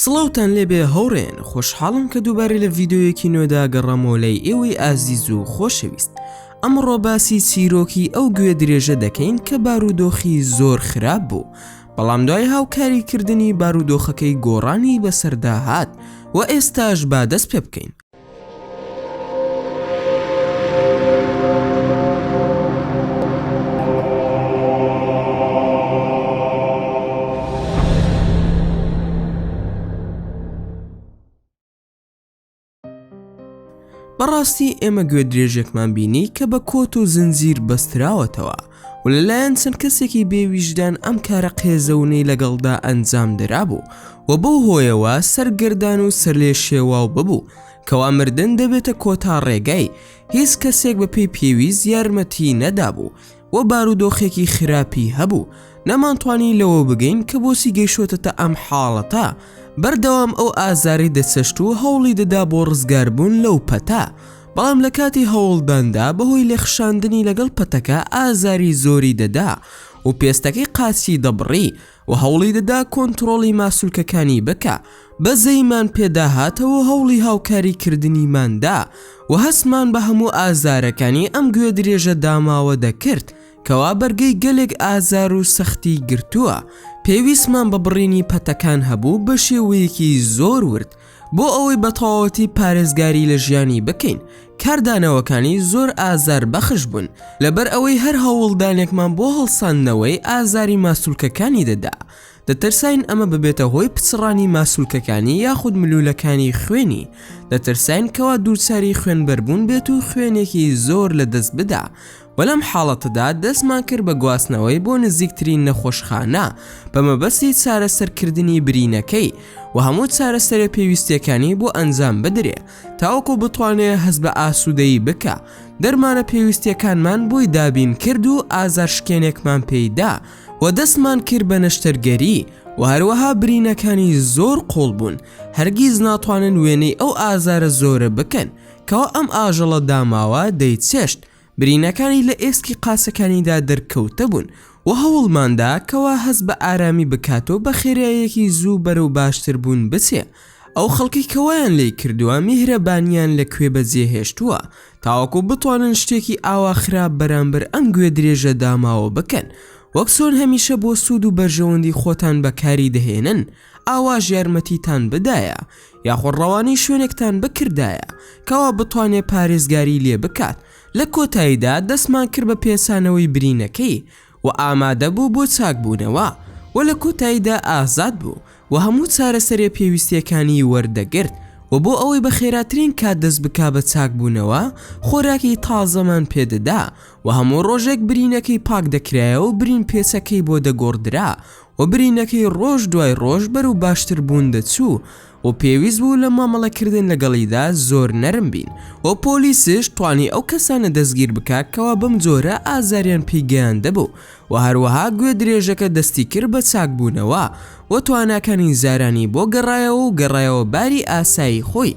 سڵاوتان لێبێ هەوڕێن خۆشحاڵم کە دووبارە لە ڤیددیویەکی نوێدا گەڕامەوە لای ئێوەی ئازیز و خۆشەویست ئەمڕۆ باسی چیرۆکی ئەو گوێ درێژە دەکەین کە بارودۆخی زۆر خراپ بوو بەڵام دوای هاوکاری کردنی بارودۆخەکەی گۆڕانی بەسەردا هات و ئێستاش با دەست پێ بکەین بەڕاستی ئێمە گوێ درێژێکمان بینی کە بە کۆت و زنجیر بەستراوەتەوە و لەلایەن چەند کەسێکی بێویژدان ئەم کارە قێزەونەی لەگەڵدا ئەنجام درابوو و بەو هۆیەوە سەرگردان و سەرلێ شێواو ببوو کەوا مردن دەبێتە کۆتا ڕێگای هیچ کەسێک بە پێی پێویست یارمەتی نەدابوو و بارودۆخێکی خراپی هەبوو نەمانتوانی لەوە بگەین کە بۆسی گەیشتە ئەم حاڵەتە بەردەوام ئەو ئازاری دەچەشت و هەوڵی دەدا بۆ ڕزگاربوون لەو پەتا بەڵام لە کاتی هەوڵداندا بەهۆی لێخشاندنی لەگەڵ پەتەکە ئازاری زۆری دەدا و پێستەکەی قاچی دەبڕی و هەوڵی دەدا کۆنتڕۆڵی ماسولکەکانی بکا بەزەیمان پێداهاتەوە و هەوڵی هاوکاری کردنیماندا و هەستمان بە هەموو ئازارەکانی ئەم گوێ درێژە داماوە دەکرد کەوا بەرگەی گەلێک ئازار و سەختی گرتووە پێویستمان بە بڕینی پەتەکان هەبوو بە شێوەیەکی زۆر ورد بۆ ئەوەی بە تەواوەتی پارێزگاری لە ژیانی بکەین کاردانەوەکانی زۆر ئازار بەخش بوون لەبەر ئەوەی هەر هەوڵدانێکمان بۆ هەڵساندنەوەی ئازاری ماسولکەکانی دەدا دەترساین ئەمە ببێتە هۆی پچڕانی ماسولکەکانی یاخود ملولەکانی خوێنی دەترساین کەوا دووچاری خوێنبەربوون بێت و خوێنێکی زۆر لە دەست بدا و لەم حاڵەتەدا دەستمان کرد بە گواستنەوەی بۆ نزیکترین نەخۆشخانە بە مەبەستی چارەسەرکردنی برینەکەی و هەموو چارەسەرە پێویستیەکانی بۆ ئەنجام بدرێ تاوەکو بتوانێ هەست بە ئاسوودەیی بکە دەرمانە پێویستیەکانمان بۆی دابین کرد و ئازار شکێنێکمان پێیدا و دەستمان کرد بە نەشتەرگەری و هەروەها برینەکانی زۆر قوڵ بوون هەرگیز ناتوانن وێنەی ئەو ئازارە زۆرە بکەن کەوا ئەم ئاژەڵە داماوە دەیچێشت برینەکانی لە ئێسکی قاسەکانیدا دەرکەوتبوون و هەوڵماندا کەوا هەست بە ئارامی بکات و بە خێراییەکی زوو بەرەو باشتربوون بچێ، ئەو خەڵکەی کە وایان لێی کردووە میهرەبانییان لە کوێ بەجێ هێشتووە تاوەکو بتوانن شتێکی ئاوا خراپ بەرامبەر ئەم گوێدرێژە داماوە بکەن وەک چۆن هەمیشە بۆ سوود و بەرژەوەندی خۆتان بەکاری دەهێنن، ئاواش یارمەتیتان بدایە یاخۆ ڕەوانەی شوێنێکتان بکردایە کەوا بتوانێ پارێزگاری لێ بکات لە کۆتاییدا دەستمان کرد بە پێچانەوەی برینەکەی و ئامادە بوو بۆ چاکبوونەوە و لە کۆتاییدا ئازاد بوو و هەموو چارەسەرێ پێویستیەکانی وەردەگرت و بۆ ئەوەی بە خێراترین کات دەست بکا بە چاکبوونەوە خۆراکی تازەمان پێ دەدا و هەموو ڕۆژێک برینەکەی پاک دەکرایەوە و برین پێچەکەی بۆ دەگۆڕدرا و برینەکەی ڕۆژ دوای ڕۆژ بەرەو باشتر بوون دەچوو و پێویست بوو لە مامەڵە کردن لەگەڵیدا زۆر نەرم بین و پۆلیسش توانی ئەو کەسانە دەستگیر بکا کەوا بەم جۆرە ئازاریان پێی گەیاندبوو و هەروەها گوێدرێژەکە دەستی کرد بە چاک بوونەوە و تواناکانی زارانی بۆ گەڕایەوە و گەڕایەوە باری ئاسایی خۆی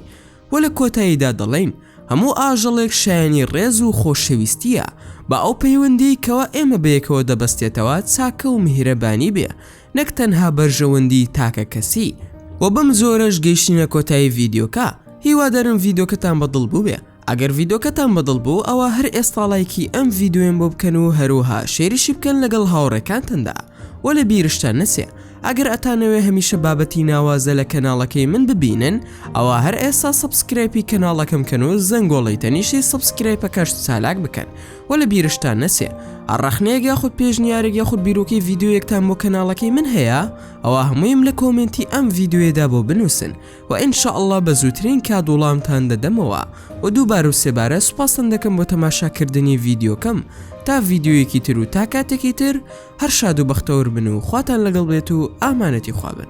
وە لە کۆتاییدا دەڵێین هەموو ئاژەڵێک شایەنی ڕێز و خۆشەویستییە با ئەو پەیوەندیەی کەوا ئێمە بەیەکەوە دەبەستێتەوە چاکە و میهرەبانی بێ نەک تەنها بەرژەوەندی تاکە کەسی وە بەم جۆرەش گەیشتینە کۆتایی ڤیدیۆکە هیوادارم ڤیدۆکەتان بە دڵ بووبێ ئەگەر ڤیدۆکەتان بە دڵ بوو ئەوا هەر ئێستا ڵایکی ئەم ڤیدۆیەم بۆ بکەن و هەروەها شێریشی بکەن لەگەڵ هاوڕێکانتندا. وە لە بیرشتان نەچێ ئەگەر ئەتانەوێ هەمیشە بابەتی ناوازە لە کەناڵەکەی من ببینن ئەوا هەر ئێستا سەبسکرەیپی کەناڵەکەم کەن و زەنگۆڵەی تەنیشتی سەبسکرەیپەکەشت چالاک بکەن وە لە بیرشتان نەچێ هەر ڕەخنەیەک یاخود پێشنیارێک یاخود بیرۆکەی ڤیدیۆیەکتان بۆ کەناڵەکەی من هەیە ئەوا هەموویم لە کۆمێنتی ئەم ڤیدیۆیەدا بۆ بنووسن وە ان شاء اللە بە زووترین کات وڵامتان دەدەمەوە وە دووبارە و سێبارە سوپاستان دەکەم بۆ تەماشا کردنی ڤیدیۆکەم تا ڤیدیۆیەکی تر و تا کاتێکی تر هەر شاد و بەختەور بن و خواتان لەگەڵ بێت و ئامانەتی خوا بن